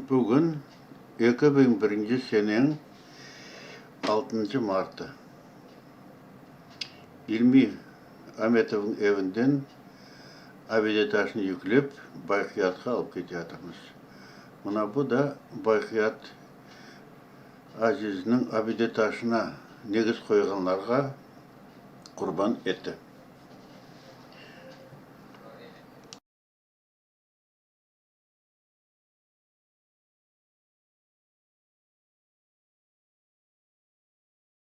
Bugün, eki biñ birinci seneñ altıncı martı. İlmi Ametovnıñ evinden abide taşnı yüklep, Bayqiyatqa alıp ketiyatırmız. Mına bu da Bayqiyat. Azizniñ abidetaşına negiz qoyğanlarğa qurban eti.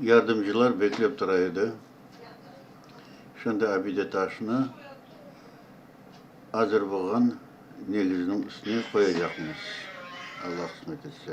Yardımcılar beklep tura edi. Şunda abide taşnı azırboğan negiziniñ üstüne qoyacaqmız, Alla qısmet etse.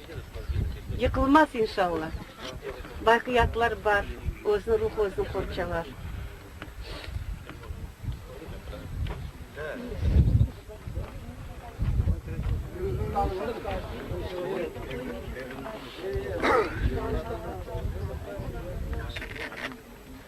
Yıqılmaz inşalla. Baqiyatlar bar, özüni ruhu özüni qorçalar.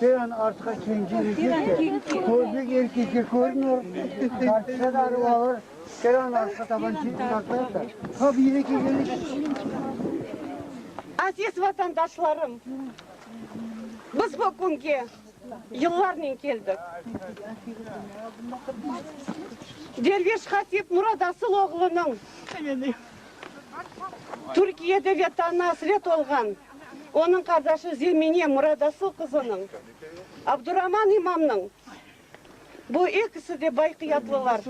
Sen artqa kenci yigitsen, közüñ erkekge körünür, dartsa da arıp alır, sen anı artqa taban çekip dartarsıñ, ha bu yine kegeniş. Aziz vatandaşlarım, biz bu künge yıllarnen keldik. Derviş hatip Murat Asıl oğlunıñ Türkiyede ve tanı asret olğan Onıñ qardaşı Zemine Muradasıl qızınıñ, Abduraman imamnıñ, bu ekisi de bayqiyatlılar,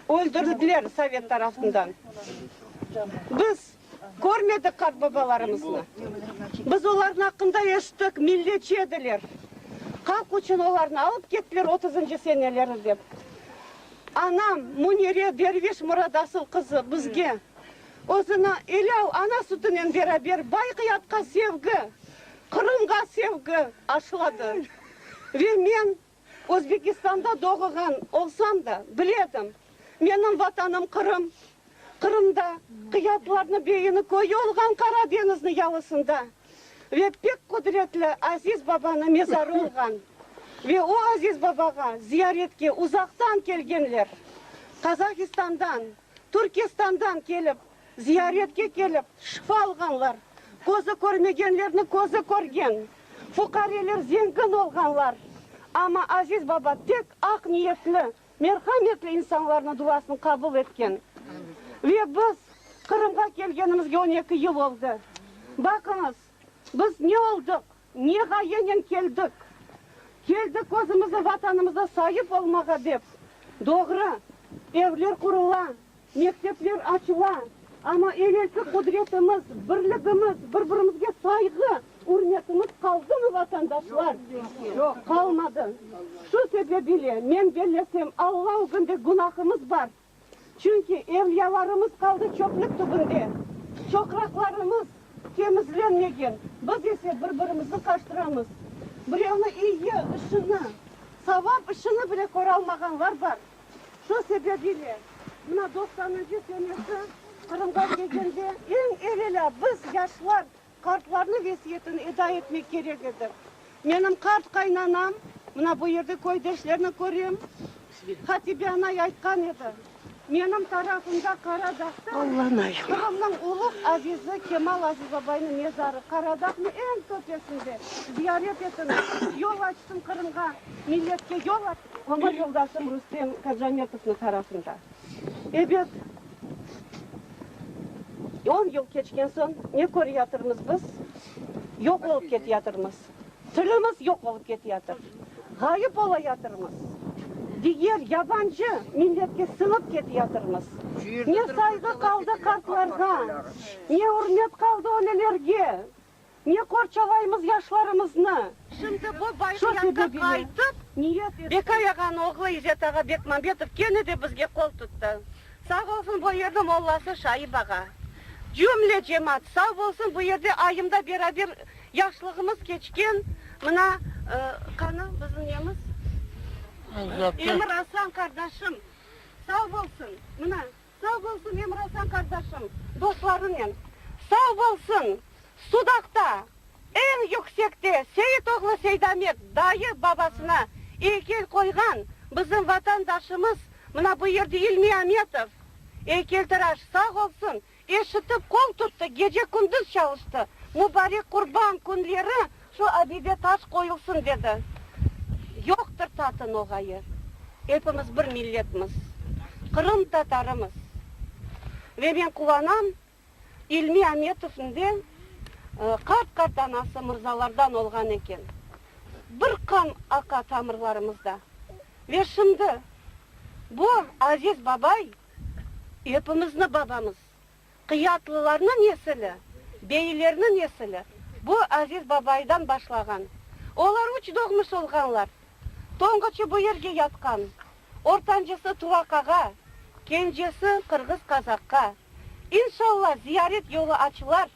öldürildiler sovet tarafından. Biz körmedik qartbabalarımıznı. Biz olarnıñ aqqında eşittik, milletçi ediler, halq içün olarnı alıp kettiler otuzıncı seneleri dep. Anam Munire Derviş Muradasıl qızı bizge Özüni elâl ana sütünen beraber Bayqiyatqa sevgi, Qırımğa sevgi aşıladı. Ve men Özbekistanda doğğan olsam da, biledim, menim Vatanım Qırım. Qırımda qıyatlarnı beyini köyü olğan Qara deñizni yalısında ve pek qudretli Aziz Babanı mezarı olğan. Ve o Aziz Babağa ziyaretke uzaqtan kelgenler, Qazahistandan, Türkistandan kelip, ziyaretke kelip, şifa alğanlar, közü körmegenlerniñ közü körgen, fuqareler zengin olğanlar, amma Aziz baba tek aq niyetli, merhametli insanlarnıñ duasını qabul etken. Ve biz Qırımğa kelgenimizge on eki yıl oldı. Baqıñız, biz ne oldıq? Ne ğayenen keldik? Keldik özümizniñ Vatanımıza saip olmağa dep. Doğru, evler qurula, mektepler açıla, amma evelki qudretimiz, birligimiz, bir-birimizge sayğı, ürmetimiz qaldımı, vatandaşlar? Yoq. Qalmadı. Şu sebep ile men bellesem, Alla ögünde günahımız bar. Çünki evliyalarımız qaldı çöplük tübünde, çoqraqlarımız temizlenmegen, biz ise bir-birimizni qaçtıramız. Birevni iyi işini, savap işini bile köralmağanlar bar. Şu sebep ile mına doqsanıncı senesi Qırımğa kelgende, eñ evelâ biz, yaşlar, Qartlarnıñ vesiyetin eda etmek kerek edi. Menim qart qaynanam, mına bu yerde köydeşlerni körem, Hatibe anay aytqan edi, Menim tarafımda Qara dağda Qırımnıñ uluğ azizi Kemal Azizabaynıñ mezarı, Qara dağnıñ eñ töpesinde, ziyaret etiñiz, yol açsın Qırımğa, milletke yol açsın. Ömür yoldaşım Rustem Kacametovnıñ tarafında. Ebet, on yıl keçken soñ ne köreyatırmız biz? Yoq olıp keteyatırmız. Tilimiz yoq olıp keteyatır. Ğayıp olayatırmız. Diger yabancı milletke siñip keteyatırmız. Ne sayğı qaldı qartlarğa, ne ürmet qaldı ölelerge. Ne qorçalaymız yaşlarımıznı? Şimdi bu Baybiyatqa qaytıp, beka yağan oğlu İzet ağa Bekmambetov kene de bizge qol tuttı. Sağ olsun bu yerniñ mollası Şaip ağa. Cümle cemaat sağ bolsun, bu yerde ayımda beraber yaşlığımız keçken mına, qanı bizim nemiz? Emir Aslan qardaşım sağ bolsun, mına. Sağ bolsun hem Razan qardaşım dostlarınen. Sağ bolsun! Sudaqta, eñ yüksekte Seit oğlu Seidamet dayı babasına eykel qoyğan bizim vatandaşımız mına bu yerde İlmi Ametov, eykeltıraş, sağ olsun, eşitip qol tuttı, gece-kündüz çalıştı. Mübarek Qurban künleri Şu abide taş qoyulsın, dedi. Yoqtır tatın o ğayı. Epimiz bir milletmiz, Qırım tatarımız. Ve men quvanam, İlmi Ametovnıñ de qart-qart anası mırzalardan olğan eken. Bir qan aqa tamırlarımızda. Ve şimdi bu aziz babay epimizni babamız. Qıyatlılarnıñ nesili, beylerniñ nesili bu Aziz babaydan başlağan. Olar üç doğmuş olğanlar. Tonguçı bu yerge yatqan, ortancısı Tuvaqağa, kencesi Qırğız-Qazaqqa. İnşalla, ziyaret yolu açılar.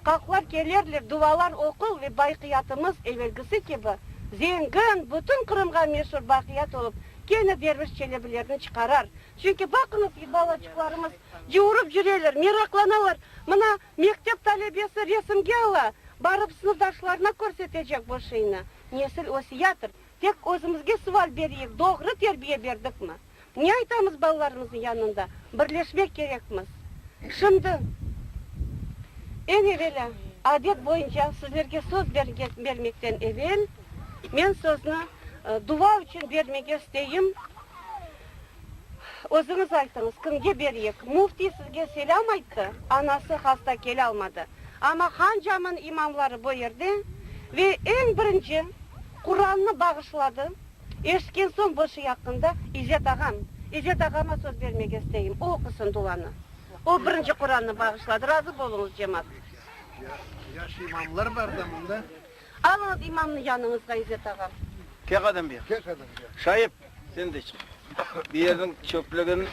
Qalqlar kelerler, duvalar oqul ve baqiyatımız evelgisi kibi zengin, bütün Qırımğa meşur baqiyat olıp, kene Derviş Çelebilerni çıqarar. Çünki baqıñız, balaçıqlarımız cıurıp cüreler, meraqlanalar, mına, mektep talebesi resimge ala, barıp sınıfdaşlarına körsetecek bu şiynı. Nesil ösiyatır. Tek özümizge sual bereyik, doğru terbiye berdikmi? Ne aytamız balalarımıznıñ yanında? Birleşmek kerekmiz. Şimdi, eñ evelâ, adet boyunca sizlerge söz bermekten evel, men sözni dua içün bermege isteyim. Özüñiz aytıñız, kimge bereyik? Müftiy sizge selâm ayttı, anası hasta kelâlmadı. Amma Han camın imamları bu yerde ve eñ birinci Qurannı bağışladı. Eşitken soñ bu şey aqqında İcet ağam, İcet ağama söz bermege isteyim, o oqusın duanı. O birinci Qurannı bağışladı, razı boluñız, cemaat. Yaş imamlar bar da mında. Alıñız imamnı yanıñızğa, İcet ağam. Kel qadam bir yaqqa. Şaip, sen de çık. Bu yerniñ çöplügin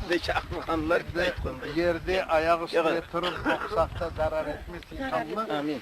de çaqırğanlar, Bizde yerde ayaq üstüne turıp oqusaq da zarar etmez, inşallah. Amin.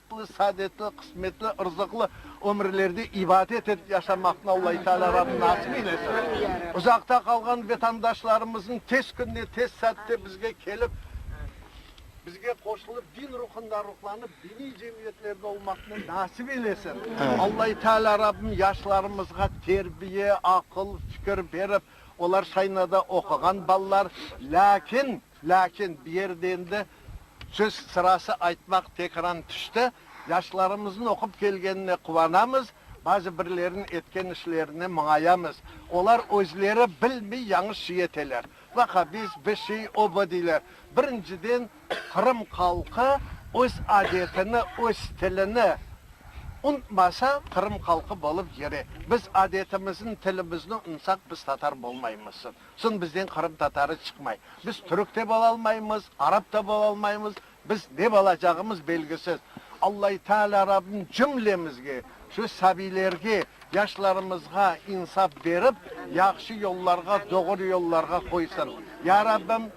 Baxtlı, saadetli, qısmetli, ırzıqlı ömürlerde ibadet etip yaşamaqnı Allâhu Teâlâ Rabbim nasip eylesin. Uzaqta qalğan vetandaşlarımızın tez künde, tez saatte bizge kelip, bizge qoşulıp, din ruhunda ruhlanıp, diniy cemiyetlerde olmaqnı nasip eylesin. Allâhu Teâlâ Rabbim yaşlarımızğa terbiye, aqıl, fikir berip, olar şaynada oquğan balalar, lâkin, Lâkin bir yerde endi söz sırası aytmaq tekran tüşti. Yaşlarımıznıñ oqup kelgenine quvanamız, bazı birleriniñ etken işlerine muñayamız. Olar özleri bilmey yañış şey eteler. Vahhabizm, bir şey, o, bu deyler. Birinciden, Qırım halqı öz adetini, öz tilini unutmasa, Qırım halqı bolıp yürey. Biz adetimizin, tilimizni unutsaq, biz tatar bolmaymızsız. Soñ bizden qırımtatarı çıqmay. Biz türk de bolalmaymız, arap da bolalmaymız, biz ne bolacağımız belgisiz. Allây Teâlâ Rabbim cümlemizge, şu sabiylerge, yaşlarımızğa insaf berip, yahşı yollarğa, doğru yollarğa qoysın. Ya Rabbim,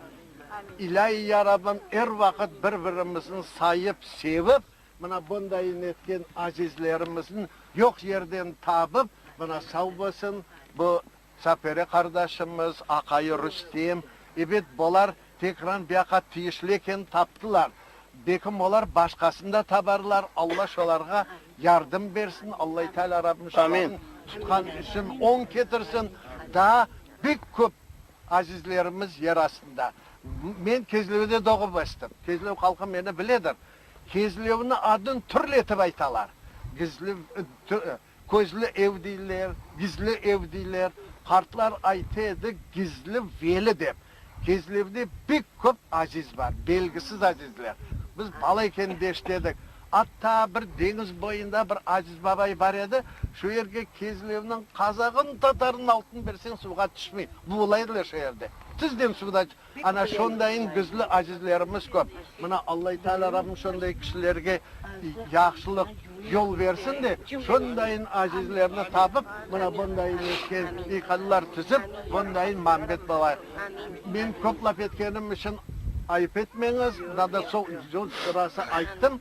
ilây Ya Rabbim, er vaqıt bir-birimizin sayıp, sevip, mına bundayın etken azizlerimizin yoq yerden tabıp, mına sav bolsun, bu. Sapere qardaşımız, aqayı Rustem, ebet, bolar Tekran biaqa tiyişli eken, taptılar. Bekim olar başqasını da tabarlar, Alla şolarğa yardım bersin, Allây Teala Rabbim şolarnı tutqan üsün oñ ketirsin, daa bek köp azizlerimiz yer astında. Men Kezlevde doğıp östüm, Kezlev halqı meni biledir. Kezlevni adın türlü etip aytalar. Gizlev, tü, Közlü ev deyler, gizli ev deyler. Qartlar ayta edi, gizli veli dep. Gizlivde pek köp aziz bar, belgisiz azizler. Biz bala ekende eşitedik, atta bir deñiz boyunda bir aziz babay bar edi, şu yerge Kezlevniñ qazağın, tatarın altın berseñ, suvğa tüşmey. Buğulaydılar şu yerde. Tizden suvda Ana şundayın bizli azizlerimiz köp. Mına Allây Teâlâ Rabbim şunday kişilerge yahşılıq yol bersin de, şundayın azizlerni tapıp, mına bundayın etken iykadlar tizip, bundayın mambet bolayıq. Men köp laf etkenim içün ayıp etmeñiz, daha doğrusu, rası ayttım.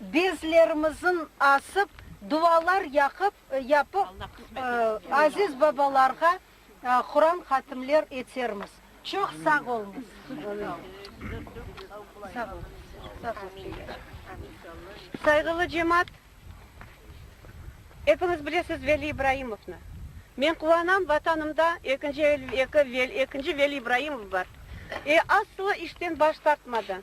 Bezlerimizin asıp, dualar yaqıp, yapıp, aziz babalarğa Quran hatimler etermiz. Çoq sağ olunız. Sağ ol. Sağ ol. Sayğılı cemaat, epiñiz bilesiz Veli İbraimovnı. Men quvanam, Vatanımda ekinci, ekinci Veli İbraimov bar. E, aslı işten baş tartmadı.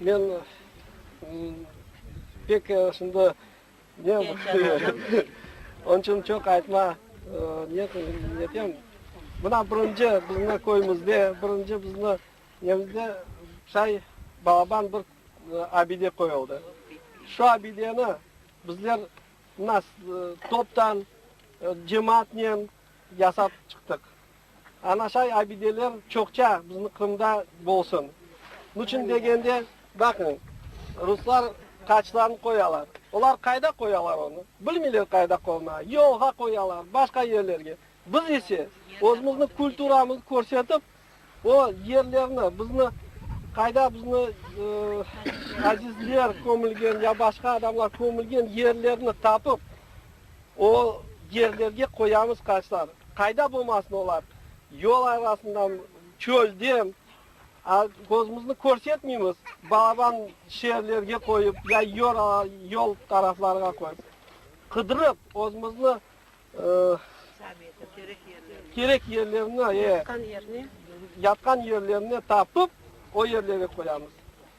Men pek şimdi ne Onıñ içün çoq aytma netem. Mına birinci bizni köyümizde, birinci bizni nemizde say balaban bir abide qoyuldı. Şu abideni bizler mına toptan, cemaatnen yasap çıqtıq. Anaşay abideler çoqça bizni Qırımda bolsun. Niçün degende, baqıñ, ruslar qaçlarını qoyalar. Olar qayda qoyalar onı? Bilmeyler qayda qoymağa. Yolğa qoyalar, başqa yerlerge. Biz ise, özümüzni, kulturamızı körsetip, o yerlerni, bizni, qayda bizni azizler kömülgen ya başqa adamlar kömülgen yerlerni tapıp, O yerlerge qoyamız qaşlar. Qayda bolmasın olar? Yol arasından, çölde. A, közümüzni körsetmeymiz. Balaban şeerlerge qoyıp, ya yor, yol taraflarğa qoyıp. Qıdırıp, özümüzni, kerek yerlerni, e, yatqan yerlerini tapıp, o yerlere qoyamız.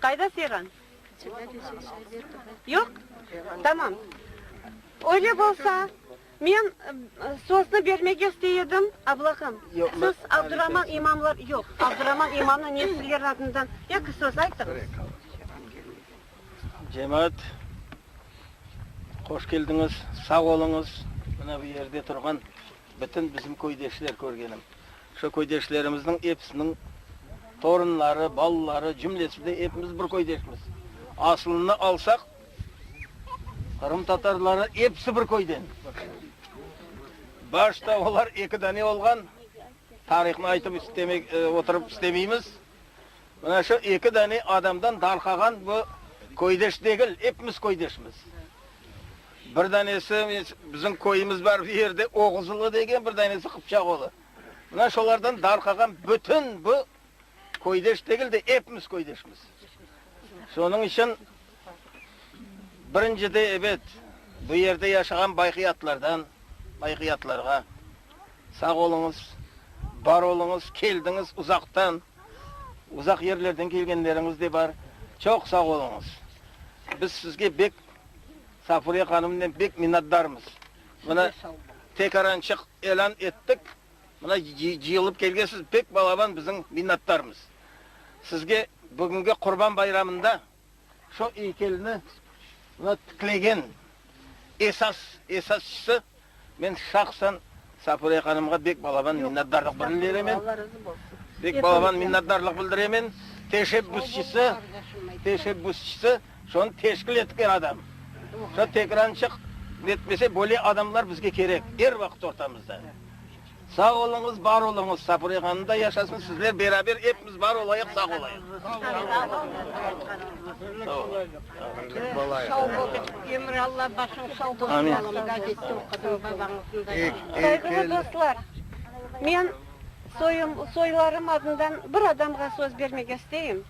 Qayda Fiğan? Yoq? Tamam. Öyle bolsa, men sözni bermege istey edim, ablahım. Siz Abduraman imamlar, yoq, Abduraman imamnıñ nesilleri adından eki söz aytıñız. Cemaat, hoş keldiñiz, sağ oluñız. Mına bu yerde turğan Bütün bizim köydeşler körgenim. Şu köydeşlerimizniñ episiniñ torunları, balaları, cümlesi de epimiz bir köydeşmiz. Asılını alsaq, qırımtatarları episi bir köyden. Başta olar eki dane olğan, tarihını aytıp istemek, oturıp istemeymiz. Mına şu eki dane adamdan darqağan bu köydeş degil, epimiz köydeşmiz. Bir danesi, bizim köyümiz bar bu yerde, Oğuzulu degen, bir danesi Qıpçağoğlu. Mına şolardan darqağan bütün bu köydeş degil de, epimiz köydeşmiz. Şonıñ içün. Birincide, ebet, bu yerde yaşağan bayqiyatlardan, bayqiyatlarğa sağ oluñız, bar oluñız, keldiñiz uzaqtan, uzaq yerlerden kelgenleriñiz de bar, çoq sağ oluñız. Biz sizge bek, Safuriye hanımnen bek minnatdarmız. Mına, tek arançıq elan ettik, mına cıyılıp kelgensiz, bek balaban biziñ minnatdarmız. Sizge bugüngi Qurban bayramında Şu eykelni mına tiklegen esas esasçısı men şahsan Safiye hanımğa bek balaban minnetdarlıq bildiremen. Bek balaban minnetdarlıq bildiremen. Teşebbüsçisi, teşebbüsçisi şonı teşkil etken adam. Şu tekrançıq netmese böyle adamlar bizge kerek er vaqıt ortamızda. Sağ oluñız, bar oluñız, Sapıre hanımda yaşasın sizler beraber epimiz bar olayıq, sağ olayıq. Sağ ol, Emir Alla başıñ sağ bolsun, nasıl gazetde oqudım babañıznda. Sayğılı dostlar, men soyum, soylarım adından bir adamğa söz bermege isteyim,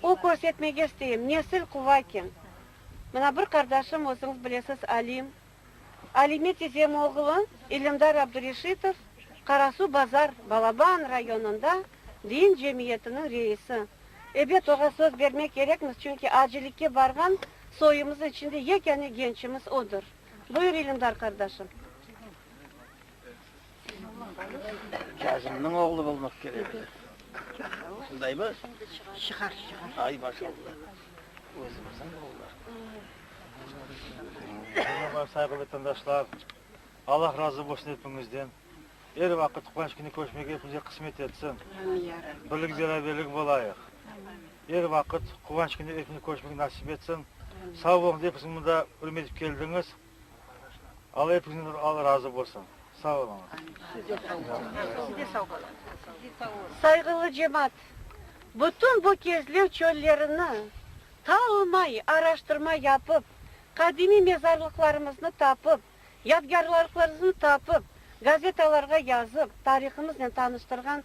o körsetmege isteyim, nesil quva eken. Mına bir qardaşım, özüñiz bilesiz, Alim, Alime tizem oğlu İlimdar Abdureşitov Qarasuu Bazar Balaban rayonında din cemiyetiniñ reisi. Ebet, oğa söz bermek kerekmiz, çünki acilikke barğan soyumızıñ içinde yekâne gençimiz odır. Buyur, İlimdar qardaşım. Kâzimniñ oğlu olmaq kerek edi. Şundaymı? Çıqar, çıqar. Ay, maşallah. Özümüzniñ oğullar. Selamlar, sayğılı vatandaşlar. Allah razı olsun epiñizden. Er vaqıt Quvanç künü körüşmege epimize qısmet etsin. Birlik-beraberlik bolayıq. Er vaqıt Quvanç künü epimiz körüşmege nasip etsin. Sağ olunız, epiniz mında ürüm etip keldiñiz. Alla epinizden al razı bolsun. Sağ oluñız. Sayğılı cemaat, bütün bu kezlev çöllerini talmay, araştırma yapıp, qadimiy mezarlıqlarımıznı tapıp, yadgârlarıqlarıznı tapıp, gazetalarğa yazıp, tarihımıznen tanıştırğan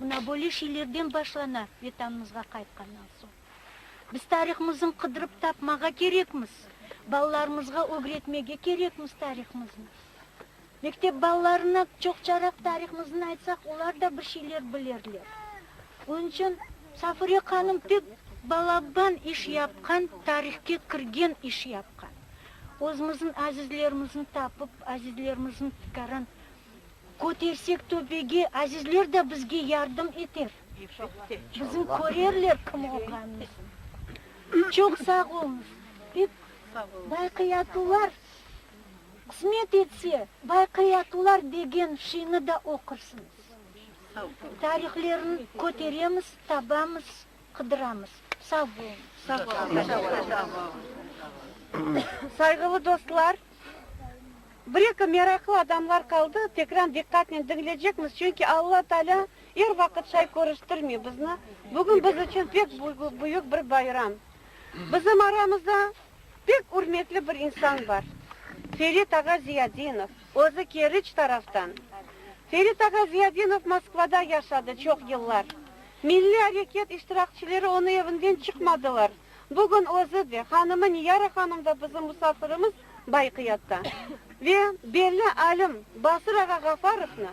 Mına böyle şeylerden başlana Vetanımızğa qaytqannan soñ. Biz tarihmızın qıdırıp tapmağa kerekmiz, balalarımızğa ögretmege kerekmiz tarihmıznı. Mektep balalarına çoqçaraq tarihmıznı aytsaq, olar da bir şeyler bilerler. Onıñ içün Safure hanım pek balaban iş yapqan, tarihke kirgen iş yapqan. Özümizin azizlerimizni tapıp, azizlerimiziñ fikrin Kötersek töbege, azizler de bizge yardım eter. Bizim körerler kim olğanımıznı. Çoq sağ oluñız. Dep, Bayqıyatular qısmet etse, Bayqıyatular degen şiini da oqursıñız. Tarihlerin köteremiz, tabamız, qıdıramız. Sağ oluñız. Sayğılı dostlar! Bir eki meraqlı adamlar qaldı, tekran diqqatnen diñlecekmiz, çünki Alla Taalâ er vaqıt şay körüştirmey bizni, bugün biz içün pek büyük bir bayram. Bizim aramızda pek ürmetli bir insan bar, Ferit ağa Ziyadinov, özü Keriç taraftan. Ferit ağa Ziyadinov Moskvada yaşadı çoq yıllar. Milliy areket iştirakçileri onı evinden çıqmadılar, Bugün özü de, hanımı Niyara hanım da bizim musafirimiz Bayqiyatta. Ve belli alim Basır ağa Ğafarovnı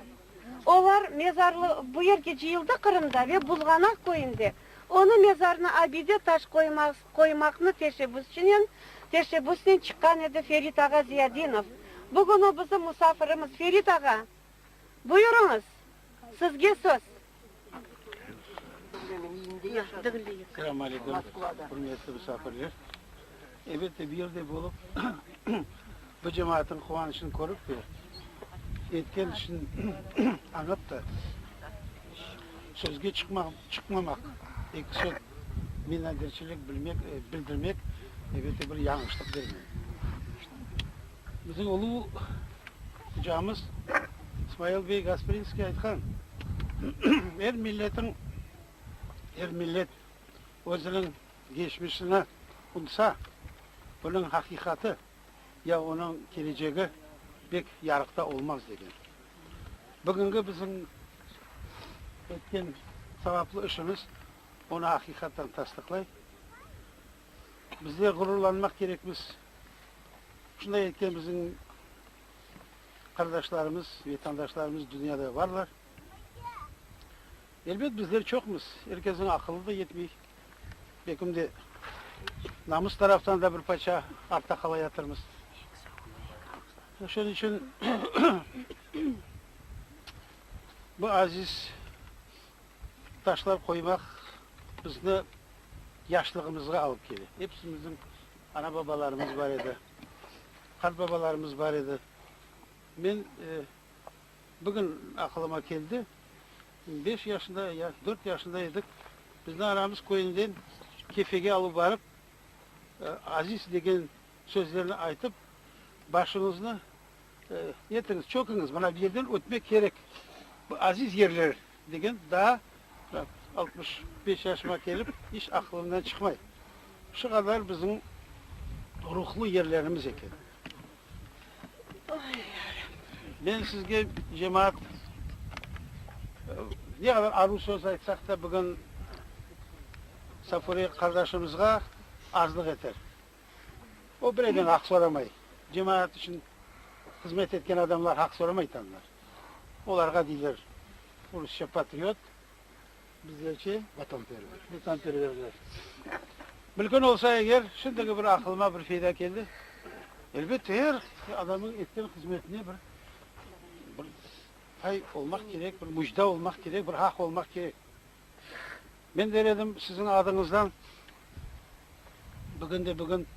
olar mezarlı, bu yerge cıyıldı Qırımda ve Buzğanaq köyünde onı mezarını abide taş qoymaq, qoymaqnı teşebbüsçinen, teşebbüsnen çıqqan edi Ferit ağa Ziyadinov. Bugün o bizim musafirimiz. Ferit ağa! Buyurıñız, sizge söz. Selam aleyküm, hürmetli misafirler. Elbette, bir yerde olıp, bu cemaatin quvanıçını körip ve etken işin añıp da, sözge çıqmamaq, eki söz minnetdarçilik bildirmek, elbette, bir yañğışlıq dermen. Bizim ulu ocamız İsmail bey Gasprinskiy aytqan, Er milletin, er millet özüniñ geçmişini unutsa, onıñ haqiqatı ya onıñ kelecegi pek yarıqta olmaz, degen. Bugüngi bizim etken savaplı işimiz onı aqiqattan tasdıqlay. Bizler ğururlanmaq kerekmiz, şunday etken bizim qardaşlarımız, vetandaşlarımız dünyada barlar. Elbet bizler çoqmız, er kesniñ aqılı da yetmey, bekim de namus taraftan da bir parça artta qalayatırmız. Şunıñ içün bu aziz taşlar qoymaq bizni yaşlığımızğa alıp kele. Episimizniñ ana-babalarımız bar edi, qartbabalarımız bar edi. Men bugün aqılıma keldi, beş yaşında ya dört yaşında edik, bizni anamız köyünden Kefege alıp barıp, Aziz degen sözlerni aytıp, başımıznı Yetiñiz, çöküñiz, mına bu yerden ötmek kerek, bu aziz yerler, degen daa altmış beş yaşıma kelip iç aqılımdan çıqmay. Şu qadar bizim ruhlu yerlerimiz eken. Men sizge cemaat ne qadar aruz söz aytsaq da bugün Safure qardaşımızğa azlıq eter. O bireden aq soramay. Cemaat içün hızmet etken adamlar aq soramay tanlar. Olarğa deyler, rusça, patriot, bizlerçe. Vatanperver. Vatanperverler. Mülkün olsa eger, şimdiki bir aqılıma bir feyda keldi, elbette, er adamnıñ etken hızmetine bir bir pay olmaq kerek, bir müjda olmaq kerek, bir aq olmaq kerek. Men der edim, siziñ adıñızdan bugün de bugün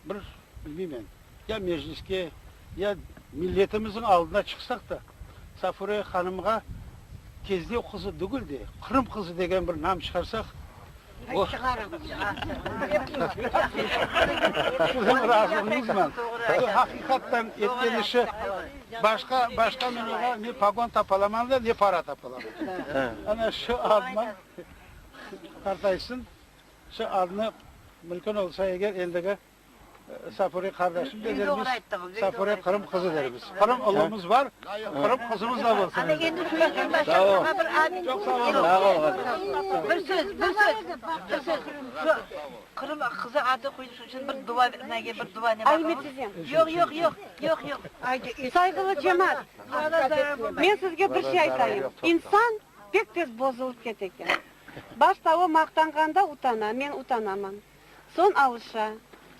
bir, bilmeymen, ya Mecliske, ya milletimiziñ aldına çıqsaq da, Safure hanımğa Kezlev qızı degil de, Qırım qızı degen bir nam çıqarsaq, o, siziñ razılığıñızman, bu, haqiqattan etken işi, Başqa, başqa men oña ne pogon tapalaman da, ne para tapalaman. Ana şu adnı qartaysın, şu adnı mülkün olsa eger endigi Safure qardaşım delermiz, Safure Qırım qızı dermiz. Qırım ulımız bar, Qırım qızımız da bolsun endi. Sağ ol. Çoq sağ ol. Sağ ol, qaziy. Bir söz, bir söz, bir söz. Qırım qızı adı qoyuş içün bir dua nege bir dua ne bar onun? Yoq, yoq, yoq, yoq, yoq. Sayğılı cemaat, men sizge bir şey aytayım, insan pek tez bozulıp kete eken. Başta o maqtanğanda utana, men utanaman, soñ alışa,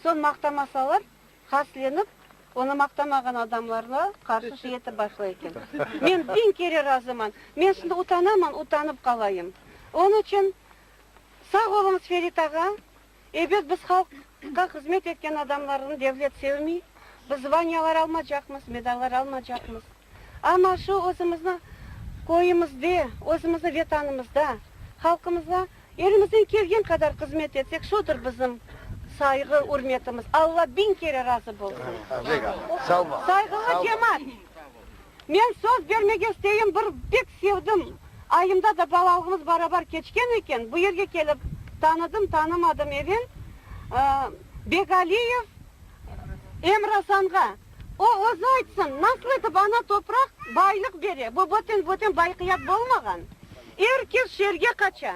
soñ maqtamasalar haslenip, onı maqtamağan adamlarğa qarşı şey etip başlay eken. Men biñ kere razıman, men şimdi utanaman, utanıp qalayım. Onıñ içün. Sağ oluñız, Ferit ağa. Ebet, biz halqqa hızmet etken adamlarnı devlet sevmey, biz zvaniyalar almacaqmız, medallar almacaqmız. Amma şu özümüzni köyümizde, özümüzni vetanımızda, halqımıza elimizden kelgen qadar hızmet etsek, şudur bizim sayğı, ürmetimiz. Alla biñ kere razı bolsun! Sayğılı cemaat! Men söz bermek isteyim, bir pek sevdim. Ayımda da balalığımız barabar keçken eken, bu yerge kelip tanıdım, tanımadım even Begaliyev Emrasanğa. O özü aytsın, nasıl etip ana topraq baylıq bere, bu böten-böten bayqiyat bolmağan. Er kes şeerge qaça.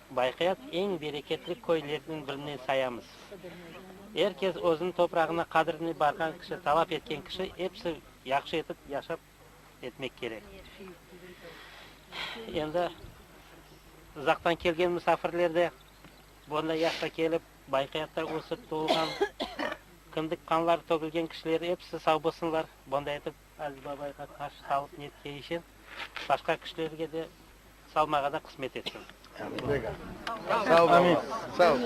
Bayqayat eñ bereketli köylerniñ birine sayamız. Er kes özüniñ toprağına qadrini barğan kişi, talap etken kişi, episi yahşı etip yaşap etmek kerek. Endi uzaqtan kelgen musafirler de bunday yaşqa kelip, Bayqayatta ösip, tuvulğan, kindik qanları tögülgen kişiler episi sağ bolsunlar, bunday etip Aziz babayğa qarşı sağlıq ne tiyişe, başqa kişilerge de salmağa da qısmet etsin. Amin. Sağ ol.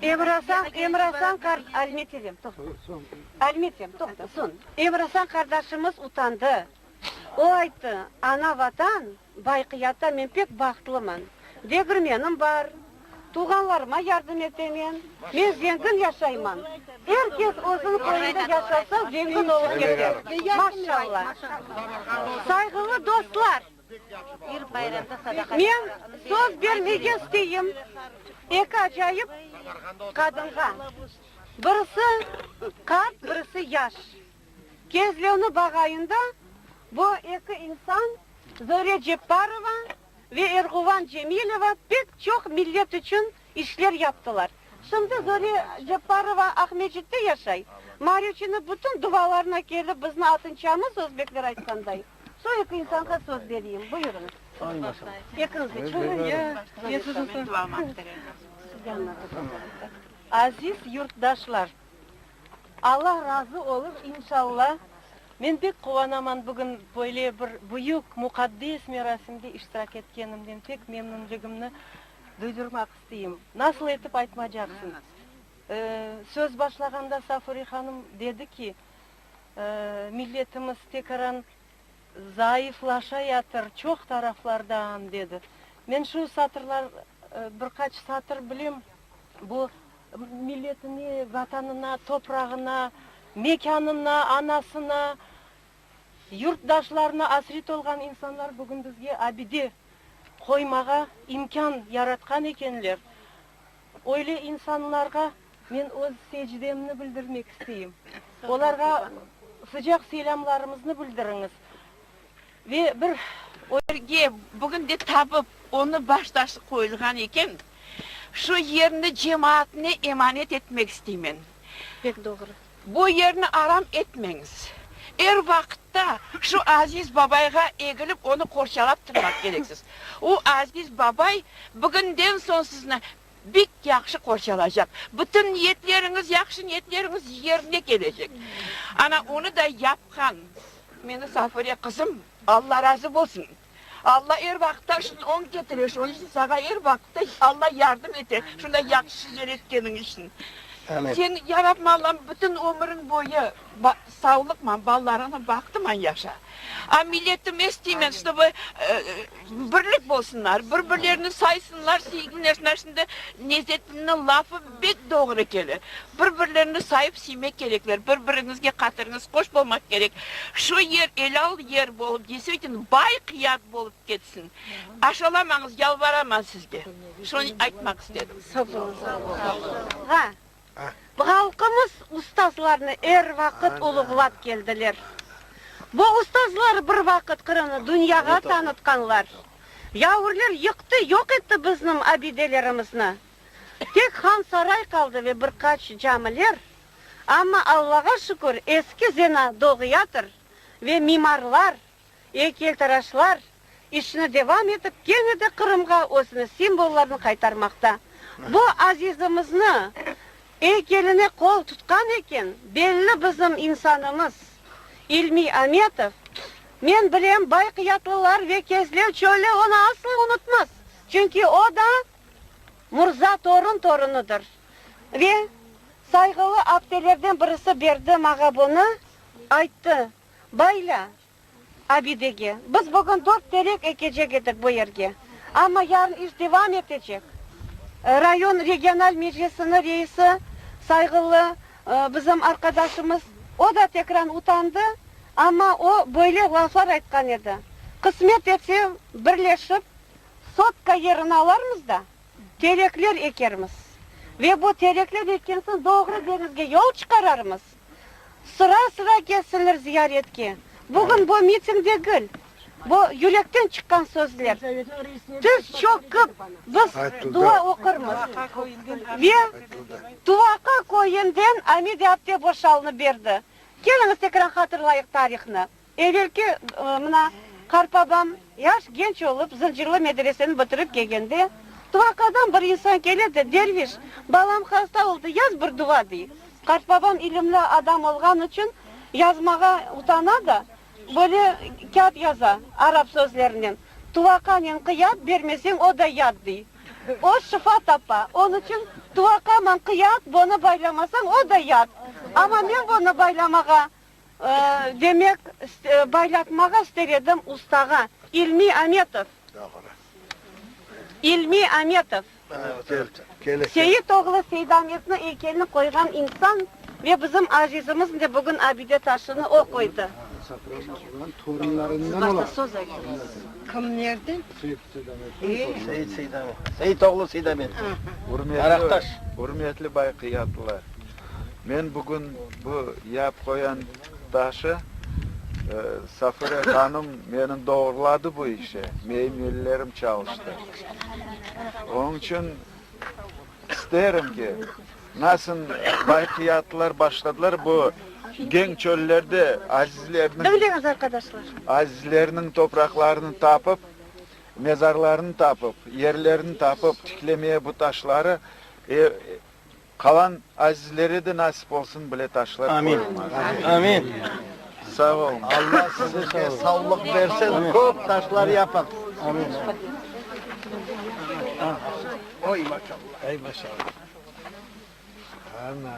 Emrasan, Emrasan qar, Almetelem, toqta. Almetem, toqta, soñ. Emrasan qardaşımız utandı. O ayttı, Ana Vatan, Vaqiyattan men pek bahtlıman. Degirmenim bar, tuvğanlarıma yardım etemen. Men zengin yaşayman. Er kes özüniñ köyünde yaşasa, zengin olıp kete. Maşalla! Sayğılı dostlar! Men söz bermege isteyim eki acayip qadınğa. Birisi, qart, birisi, yaş. Kezlevni bağayında bu eki insan, Zöre Cepparova ve Erğuvan Cemilova pek çoq millet içün işler yaptılar. Şimdi Zöre Cepparova Aqmescitte yaşay. Marüçini bütün duvalarına kelip bizni atınçamız, özbekler aytqanday. Şu eki insanğa söz bereyim. Buyurıñız. Ekiñiz de çıñız. Aziz yurtdaşlar! Alla razı olur inşalla. Men pek quvanaman bugün böyle bir büyük muqaddes merasimde iştirak etkenimden pek memnünligimni duydurmaq isteyim. Nasıl etip aytmacaqsın? Söz başlağanda Safure hanım dedi ki, milletimiz tekaran zayıflaşa yatır çoq taraflardan dedi. Men şu satırlar bir qaç satır bilem bu Milletine, Vatanına, toprağına, mekânına, anasına, yurtdaşlarına asret olğan insanlar bugün bizge abide qoymağa imkân yaratqan ekenler. Öyle insanlarğa men öz secdemni bildirmek isteyim. Olarğa sıcaq selâmlarımıznı bildiriñiz. Ve bir örge bugün de tapıp, onı baş taşı qoyulğan eken. Şu yerni cemaatne emanet etmek isteymen. Pek doğru. Bu yerni aram etmeñiz. Er vaqıtta şu aziz babayğa egilip, onı qorçalap turmaq kereksiz. O aziz babay bugünden soñ sizni Bek yahşı qorçalacaq. Bütün niyetleriñiz, yahşı niyetleriñiz yerine kelecek. Ana, onı da yapqan meni Safure qızım, Alla razı bolsun. Alla er vaqıtta şunı oñ ketire, şunıñ içün saña er vaqıtta Alla yardım ete, şunday yahşı yer etkeniñ içün. Seni, Ya Rabbim Allam, bütün ömüriñ boyu. Sağlıqman, balalarıñnı baxtıman yaşa. A milletimiz tiymen, ştobu birlik bolsunlar, bir-birlerini saysınlar, siyginlesinler. Şimdi Nezettinniñ lafı bek doğru kele. Bir-birlerini sayıp siymek kerekler, bir-biriñizge qatırıñız qoş bolmaq kerek. Şu yer elâl yer bolıp, desvitino, bay qıyat bolıp ketsin. Aşalamañız, yalvaraman sizge. Şunı aytmaq istedim. Sağ olun. Halqımız ustazlarnı er vaqıt uluğlap keldiler. Bu ustazlar bir vaqıt Qırımnı dünyağa tanıtqanlar. Yavurlar yıqtı, yoq etti bizniñ abidelerimizni. Tek Hansaray qaldı ve bir qaç camiler. Amma Allağa şükür, eski zena doğuyatır ve mimarlar Eykeytaraşlar işini devam etip, kene de Qırımğa özüniñ simvollarını qaytarmaqta. Bu azizimizni eykeline qol tutqan eken, belli bizim insanımız İlmi Ametov. Men bilem, Bayqiyatlılar ve Kezlev çöli onı asla unutmaz, çünki o da Murza Torun torunıdır. Ve sayğılı abtelerden birisi Berdi mağa bunı ayttı. Bayla, abidege. Biz bugün dört terek ekecek edik bu yerge, amma yarın iş devam etecek. Rayon regional meclisiniñ reisi, sayğılı bizim arqadaşımız, o da tekran utandı, amma o böyle laflar aytqan edi, Qısmet etse, birleşip, sotka yerini alarmız da, terekler ekermiz. Ve bu terekler ekkensin doğru deñizge yol çıqararmız. Sıra-sıra kelsinler ziyaretke. Bugün bu miting degil, bu yürekten çıqqan sözler. Tiz çoqıp biz dua oqurmız. Ve Tuvaqa köyünden Amide apte boşalnı berdi. Keliñiz tekrar hatırlayıq tarihni. Evelki, mına, qarpabam, yaş genç olıp, Zıncırlı medreseni bitirip kelgende, tuvaqadan bir insan kele de, Derviş, balam hasta oldı, yaz bir duva, dey. Qarpabam ilimli adam olğanı içün yazmağa utana da, böyle kâğıt yaza, arap sözlerinen, Tuvaqanen qıyat, bermeseñ, o da yat, dey. O şifa tapa. Onı içün, Tuvaqaman qıyat, bonı baylamasañ, o da yat. Amma men bonı baylamağa Demek, baylatmağa ister edim ustağa, İlmi Ametov. Doğru. İlmi Ametov. Seit oğlu Seidametniñ eykelini qoyğan insan ve bizim azizimiz de bugün abide taşını o qoydı. Siz başta söz ayttınız. Kim nerde? Seit oğlu Seidamet. Araqtaş. Ürmetli bay Qıyatlılar! Men bugün bu yap qoyan taşı, Safire hanım meni doğruladı bu işe, meyim ellerim çalıştı. Onıñ içün isterim ki, nasıl bayqiyatlar başladılar bu geñ çöllerde azizlerniñ, azizlerniñ topraqlarını tapıp, mezarlarını tapıp, yerlerini tapıp tiklemeye bu taşları, Qalan azizlere de nasip olsun, bile taşlar qoyulmaz. Amin. Amin. Sağ olun. Alla sizinke savlıq bersin, köp taşlar yapıñ. Amin. Oy, maşallah. Ay, maşallah. Ana.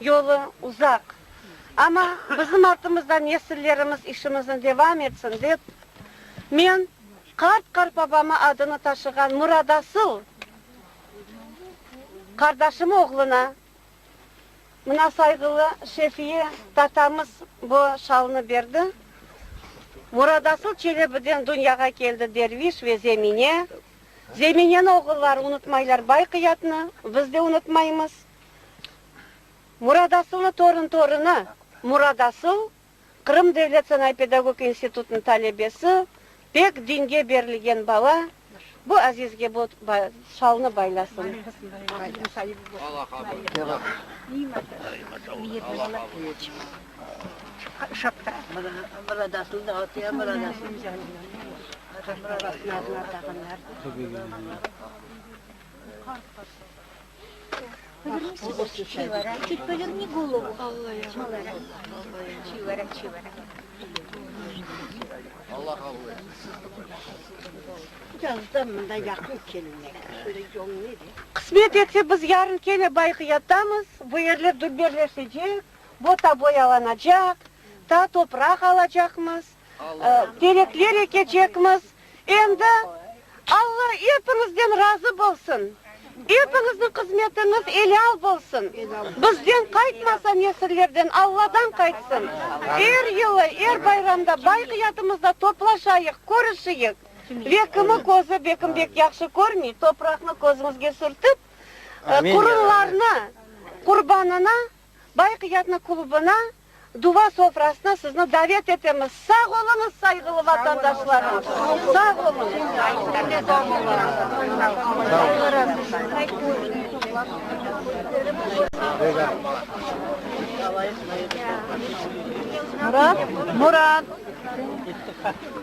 Yolu uzaq, amma bizim artımızdan nesillerimiz işimizni devam etsin dep, men qart-qartbabamı adını taşığan Muradasıl qardaşım oğluna, mına sayğılı Şefiye tatamız bu şalnı berdi, Muradasıl Çelebiden dünyağa keldi Derviş ve Zemine, Zemineni oğulları unutmaylar Bay Qıyatnı, biz de unutmaymız, Muradasılnı torun torunı Muradasıl, Qırım devlet sanay-pedagog institutınıñ talebesi, pek dinge berilgen bala, bu aziz gebot şalnı baylasın. Qısmet etse, biz yarın kene Bayqıyaddamız, bu yerler dülberleşecek, bota boyalanacaq, ta topraq alacaqmız. Terekler ekecekmiz. Endi Alla epiñizden razı bolsun! Epiñizniñ qızmetiñiz elâl bolsun! Bizden qaytmasa, nesillerden Alladan qaytsın! Er yılı, er bayramda bayqiyatımızda toplaşayıq, körüşeyik! Ve kimi közü bekimbek yahşı körmey, topraqnı közümizge sürtip, qurunlarnı qurbanına Bayık yatna klubına, duva sofrasına sizni davet etemiz. Sağ oluñız, sayğılı vatandaşlarım! Sağ oluñız!